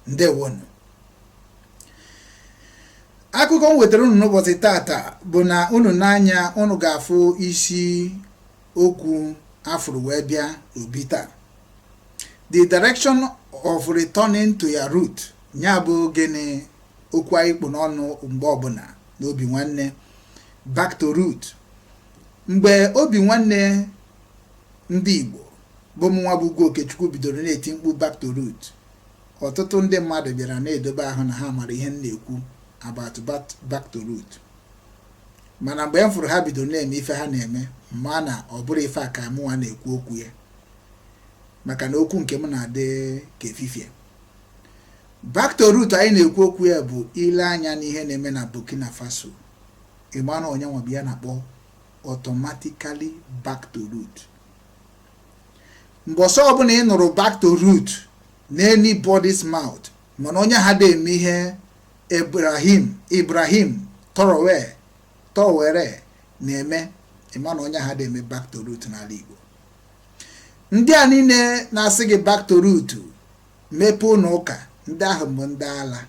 ndewonu akụkọ m wetara unu n'ụbọchị tata bụ na unu n'anya unu ga-afụ isi okwu a fụrụ wee bịa n'obi taa the direction of returning to your root nya bụ gịnị okwu anyị kpụ n'ọnụ mgbe ọbụna n'obi nwanne back to root mgbe obi nwanne ndị Igbo bụ mụnwa bụ Ugwu Okechukwu bidoro na-eti mkpu back to root Ọtụtụ ndị mmadụ bịara na-edobe ahụ na ha mara ihe m na-ekwu about back to root mana mgbe m fụrụ ha bidoro na-eme ife ha na-eme ma na ọ bụrọ ife a ka mụnwa na-ekwu okwu ya maka na okwu nke m na-adị ka efifie back to root anyị na-ekwu okwu ya bụ ile anya n'ihe na-eme na Burkina Faso ịma na nya nwa bụ ihe a na-akpọ automatically back to root mbọsị ọbụna ị nụrụ back to root n'anybody's mouth mana onye ahụ ada eme ihe Ibrahim Ibrahim Traoré Traoré na-eme ịma na onye ahụ ada eme back to root n'ala Igbo ndị a niile na-asị gị back to root mepee ụnọ ụka ndị ahụ bụ ndị ala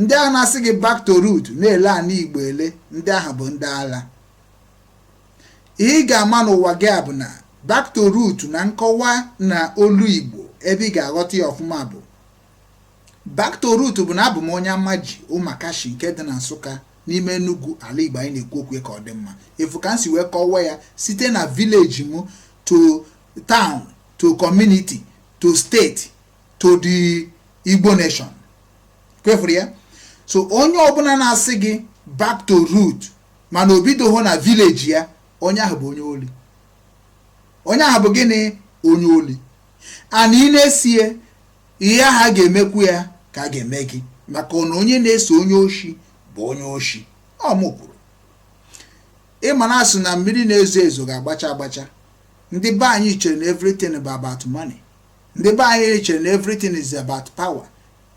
ndị ahụ na-asị gị back to root na-ele ana Igbo ele ndị ahụ bụ ndị ala Ihe ị ga-ama n'ụwa gị a bụ na back to root na nkọwa na olu Igbo ebe ị ga-aghọta ya ọfụma bụ back to root bụ na abụ m onye Amaji Ụmakashi nke dị na Nsụka n'ime Enugu ala Igbo anyị na-ekwu okwu ka ọ dị mma ị fụ ka m si wee kọwa ya site na village m to town to community to state to the Igbo nation kwa ị fụrụ ya so onye ọbụna na-asị gị back to root mana o bidoho na village ya onye ahụ bụ onye oli onye ahụ bụ gịnị onye oli and ị na-eso ya ihe ahụ a ga-emekwu ya ka a ga-eme gị maka na onye na-eso onye oshi bụ onye oshi ọ mụ kwuru ịma na a sị na mmiri na-ezo ezo ga-agbacha agbacha ndị be anyị chere na everything bụ about money ndị be anyị chere na everything is about power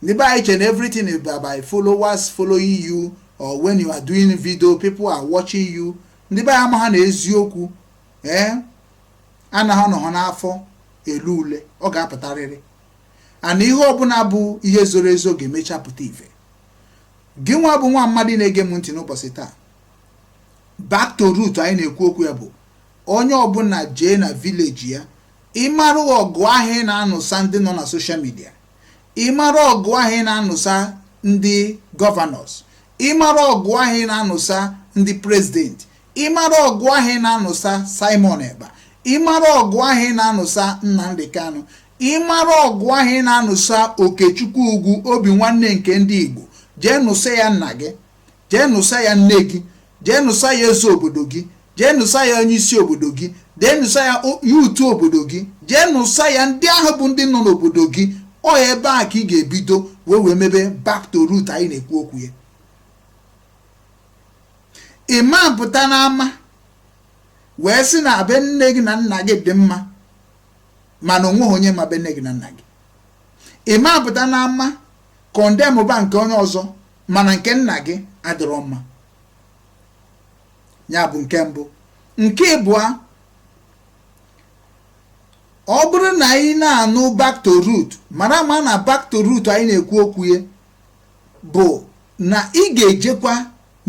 Ndị be anyị che na everything is by followers following you or when you are doing video people are watching you ndị be anyị amaha na eziokwu ee eh, anaghị anọ n'afọ ele ule ọ ga-apụtarịrị and ihe ọbụna bụ ihe zoro ezo ga-emecha pụta ife gị nwa bụ nwa mmadụ na-ege m ntị n'ụbọchị taa back to root anyị na-ekwu okwu ya bụ onye ọbụna jee na village ya ị marụ ọgụ ahụ ị na-anụsa ndị nọ na social media ị mara ọgụ ahụ ị na-anụsa ndị governors ị mara ọgụ ahụ ị na-anụsa ndị president ị mara ọgụ ahụ ị na-anụsa Simon Ekpa ị mara ọgụ ahụ ị na-anụsa Nnamdi Kanu ị mara ọgụ ahụ ị na-anụsa Okechukwu Ugwu Obinwanne nke ndị Igbo jee nụsa ya nna gị jee nụsa ya nne gị jee nụsa ya eze obodo gị jee nụsa ya onye isi obodo gị jee nụsa ya youth obodo gị jee nụsa ya ndị ahụ bụ ndị nọ n'obodo gị ọ ebe a ka ị ga-ebido wee wee mebe back to root anyị na-ekwu okwu ya ị ma-apụta n'ama wee sị na be nne gị na nna gị dị mma mana o nweghị onye ma be nne gị na nna gị ị ma-apụta n'ama condemn ba nke onye ọzọ mana nke nna gị adịrọ mma nya bụ nke mbụ nke ịbụa ọ bụrụ na anyị na-anụ back to root mara ma na back to root anyị na-ekwu okwu ya bụ na ị ga-ejekwa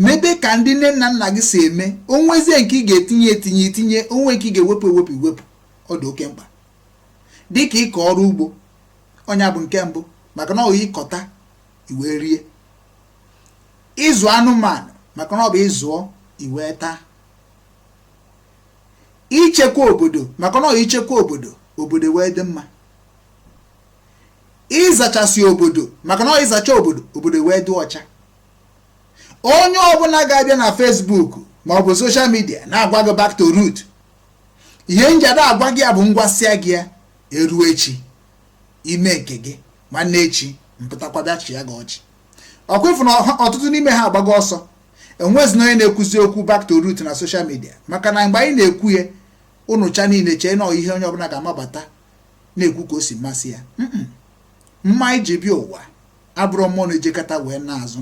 mebe ka ndị nne na nna gị si eme o nwezie nke ị ga-etinye etinye i tinye o nwee nke ị ga-ewepụ ewepụ i wepụ ọ dị oke mkpa dịka ịkọ ọrụ ugbo ọ nya bụ nke mbụ maka na ọ ị kọta i wee rie ịzụ anụmanụ maka na ọ bụ ị zụọ i wee taa ichekwa obodo maka na ọ i chekwa obodo obodo wee dị mma ịzachasị obodo maka na ọ ị zachaa obodo obodo wee dị ọcha onye ọbụla ga-abịa na Facebook ma ọ bụ social media na-agwa gị back to root ihe m ji da-agwa gị ya bụ m gwasịa gị ya e ruo echi i mee nke gị nwanne echi m pụtakwa bịa chịa gị ọchị ọ kwa ị fụ na ọtụtụ n'ime ha agbago ọsọ enwezi na onye na-ekwuzi okwu back to root na social media maka na mgbe anyị na-ekwu ya unu ncha niile chee na ọ ihe onye ọbụla ga-amabata na-ekwu ka o si masị ya mma iji bịa ụwa abụrụ mmụọ na-ejekọta wee na-azụ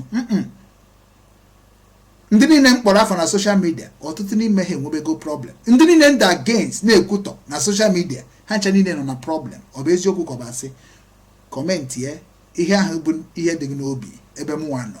ndị niile m kpọrọ afa na social media ọtụtụ n'ime ha enwebego problem ndị niile m dị against na-ekwutọ na social media ha ncha niile nọ na problem ọ bụ eziokwu ka ọ bụ asị commentie ihe ahụ bụ ihe dị gị n'obi ebe mụnwa nọ